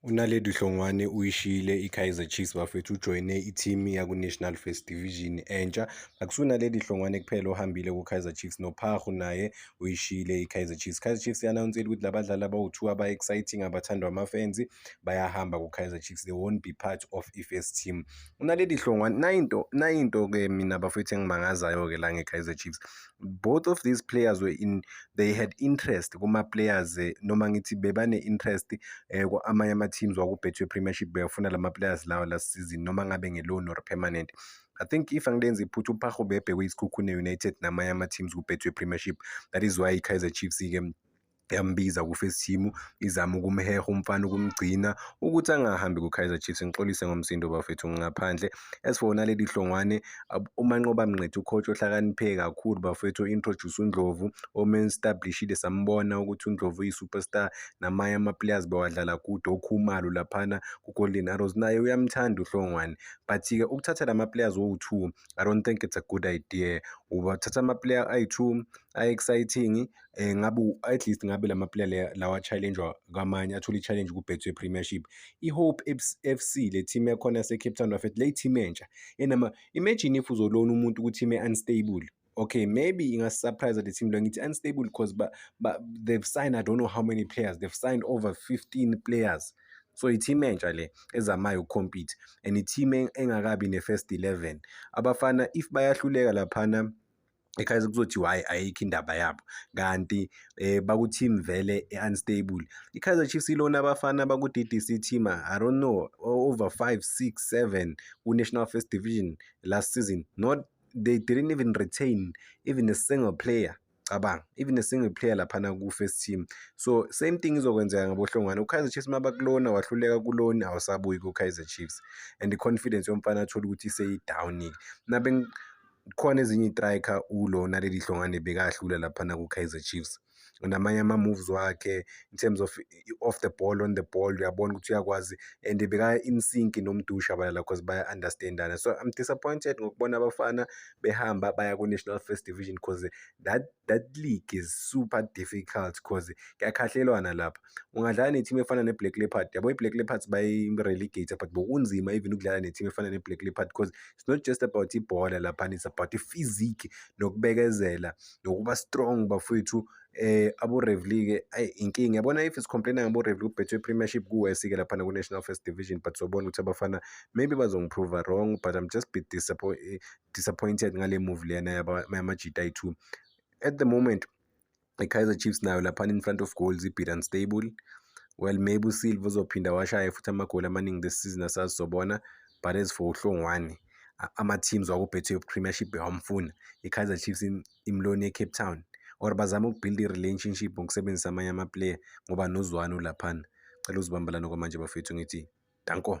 UNaledi Hlongwane uyishiyile iKaizer Chiefs bafethu ujoyine ithimu yakuNational First Division entsha. Akusunaledi Hlongwane kuphela ohambile kuKaizer Chiefs noPhahu naye uyishiyile iKaizer Chiefs. Kaizer Chiefs i-anawunsile ukuthi la badlali abawu-two aba-exciting abathandwa amafenzi bayahamba kuKaizer Chiefs. They won't be part of i-first team. UNaledi Hlongwane nayinto nayinto-ke mina bafethu engimangazayo-ke la ngeKaizer Chiefs. both of these players were in they had interest kuma players eh, noma ngithi bebane interest eh, amanye ama teams wakubhethwe premiership beyafuna lama players lawa last season noma ngabe nge loan or permanent I think if angilenzi iphutha uPago bebhekwe isikhukhune United namanye ama teams kubhethwe premiership that is why iKaizer Chiefs ke yambiza ku-first team izama ukumheha umfana ukumgcina ukuthi angahambi ku-Kaizer Chiefs ngixolise ngomsindo bafethu ngingaphandle as for naleli hlongwane umanqoba mnqethu ucoach ohlakaniphe kakhulu bafethu introduce uNdlovu omen establishile sambona ukuthi uNdlovu uyi-superstar namanye ama-players bewadlala kude okhumalo laphana ku-Golden Arrows naye uyamthanda uhlongwane but-ke ukuthatha la ma-players owu-two I don't think it's a good idea ubathatha ama-player ayi-two a-exciting eh ngabe at least ngabe lama player lawa challenge kwamanye athola i-challenge ku-Betway Premiership i-Hope FC le team ekhona se-Cape Town bafethu le team entsha enama imagine if uzolona umuntu ukuthi ime unstable okay maybe ingasisurprise le team lo ngithi unstable because ba, ba, they've signed i don't know how many players they've signed over 15 players so i-team entsha le ezamayo ukucompete and i-team engakabi ne-first 11 abafana if bayahluleka laphana ekhaya kuzothi why ayikho indaba yabo kanti eh baku team vele unstable iKaizer Chiefs ilona abafana baku DDC team i don't know over 5 6 7 ku National First Division last season not they didn't even retain even a single player cabanga even a single player laphana ku-first team so same thing izokwenzeka ngabohlongwane ukaizer chiefs uma bakulona wahluleka kuloni awusabuyi ku-kaizer chiefs and i-confidence yomfana athole ukuthi seyi-down-ke khona ezinye itrika ulo naleli hlongane bekahlula laphana ku-kaizer chiefs namanye ama-moves wakhe in terms of off the ball on the ball uyabona ukuthi uyakwazi and beka-in sync nomdusha abalala because baya-understandana so i'm disappointed ngokubona abafana behamba baya ku-national first division because that, that league is super difficult because kuyakhahlelwana lapha ungadlala ne-team efana ne-black leopard yabo i-black leopards bayi-relegate but bokunzima even ukudlala ne-team efana ne-black leopard because it's not just about ibhola laphana it's about i-physique nokubekezela nokuba strong bafowethu eh abo-revely ke ayi inkinga yabona if sicomplaina ngabo-revely kubhethwe i-premiership kuwesi-ke laphana ku-national first division but sobona ukuthi abafana maybe bazongiprova wrong but i'm just be disappointed ngale move lena yamajita ayi-two at the moment i-kaizer chiefs nayo laphana in front of goals ibid unstable well maybe usilva uzophinda washaye futhi amagoli amaningi this season asazobona but as for uhlongwane ama-teams wakubetway premiership awamfuna i-kaizer chiefs imloni ecape town or bazame ukubuild i-relationship ngokusebenzisa amanye amaplayer ngoba nozwane ulaphana cela uzibambalane kwamanje bafethu ngithi danko